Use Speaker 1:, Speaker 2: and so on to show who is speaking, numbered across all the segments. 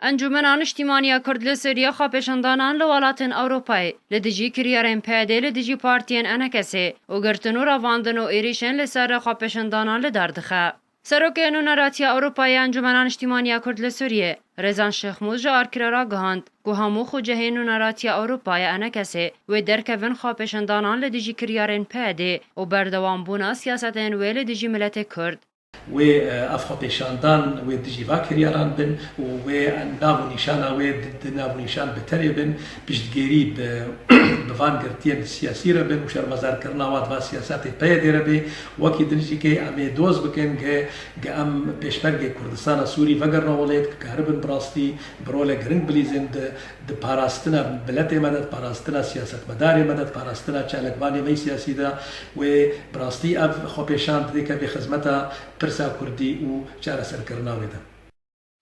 Speaker 1: Encûmena Niştîmanî ya Kurd li Sûriyê xwepêşandanan li welatên Ewropayê li dijî kiryarên PYDê li dijî partiyên Enekesê û girtin û revandin û êrîşên li ser xwepêşandanan li dar dixe. Serokê Nûneratiya Ewropayê ya Encûmena Niştîmanî ya Kurd li Sûriyê Rezan Şêxmûz ji Arkîra ra gihand ku hemû xucehên Nûneratiya Ewropa ya Enekesê wê derkevin xwepêşandanan li dijî kiryarên PYDê û berdewambûna siyasetên wê li dijî miletê Kurd. Wê
Speaker 2: ev xwepêşandan wê dijî va kiryaran bin û wê nav û nîşana wê di nav û nîşan bi terê bin, piştgêrî bi van girtiyên siyasî re bin û şermezarkirina wan di van siyasetê peyê dê re bê. Wekî di nizîkê em ê doz bikin ge em pêşmergê Kurdistana Sûrî vegirina welêt, bikaribin bi rastî bi rolek giring bilîzên di Di parastina miletê me de, di parastina siyasetmedarê me de, di parastina çalakvanê me yê siyasî de wê bi rastî ev xwepêşand dê keve xizmeta pirsa kurdî û çareserkirina wê de.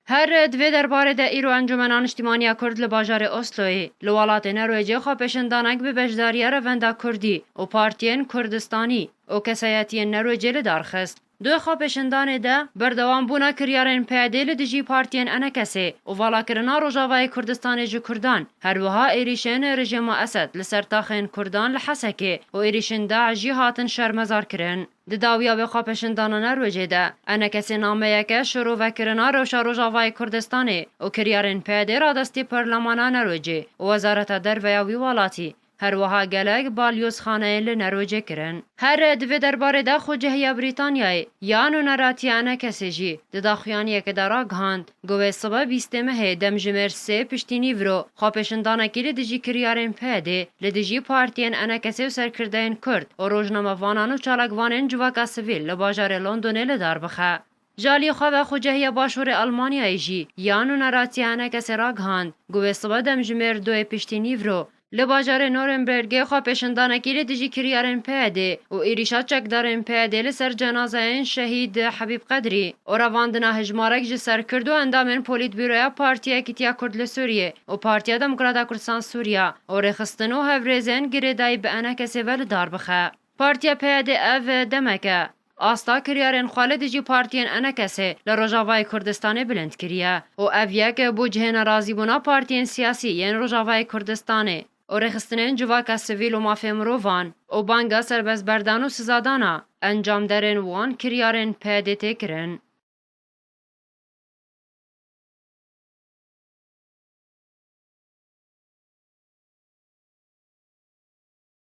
Speaker 2: Her
Speaker 1: di vê derbarê de îro Encûmena Niştîmaniya Kurd li bajarê Osloyê li welatê Norwêcê xwepêşindanek bi beşdariya Revenda Kurdî û partiyên Kurdistanî û kesayetiyên Norwêcê li dar xist. Di xwepêşandanê de berdewam bûna kiryarên PYD'ê li dijî partiyên Enekesê û valakirina Rojavayê Kurdistanê ji Kurdan, her wiha êrîşên rejîma Esed li ser taxên Kurdan li Hesekê û êrîşên DAIŞ jî hatin şermezar kirin. Di dawiya vê xwepêşandana nerwecê de, Enekesê nameyeke şirovekirina rewşa Rojavayê Kurdistanê û kiryarên PYD'ê radestî Parlemana Nerwecê û Wezareta Derve ya wî welatî, Her wiha gelek balyozxaneyên li Nerocê kirin. Her re di vê derbarê de xwe cehiya Brîtanyayê ya nûneratiya ne kesê jî di daxuyaniyekê de ragihand ku wê sibe bîstê mehê demjimêr sê piştînî viro xwepêşindanekî li dijî kiryarên PYD li dijî partiyên ene kesê û serkirdeyên Kurd û rojnamevanan û çalakvanên civaka sivîl li bajarê Londonê li dar bixe. Ji aliyê xwe ve xwecehiya Başûrê Elmanyayê jî yan û neratiya hinekesê ragihand ku wê sibe demjimêr doyê piştî nîvro li bajarê Nûrembergê xwepêşandanekî li dijî kiryarên PYDê û êrîşa çekdarên PYDê li ser cenazeyên şehîd Habîb Qedrî û revandina hejmarek ji ser Kurd û endamên Polîtbîroya Partî Yekîtiya Kurd li Sûriyê û Partîya Demokrata Kurdistan Sûriya û rêxistin û hevrêzên girêdayî bi enekesê ve li dar bixe. Partîya PYDê ev demek e. Asta kiryarên xwe li dijî partiyên enekesê li Rojavayê Kurdistanê bilind kiriye û ev yek bû cihê nerazîbûna partiyên siyasî yên Rojavayê Kurdistanê û rêxistinên civaka sivîl û mafê mirovan û banga serbestberdan û sizadana encamderên wan kiryarên PYDê tê kirin.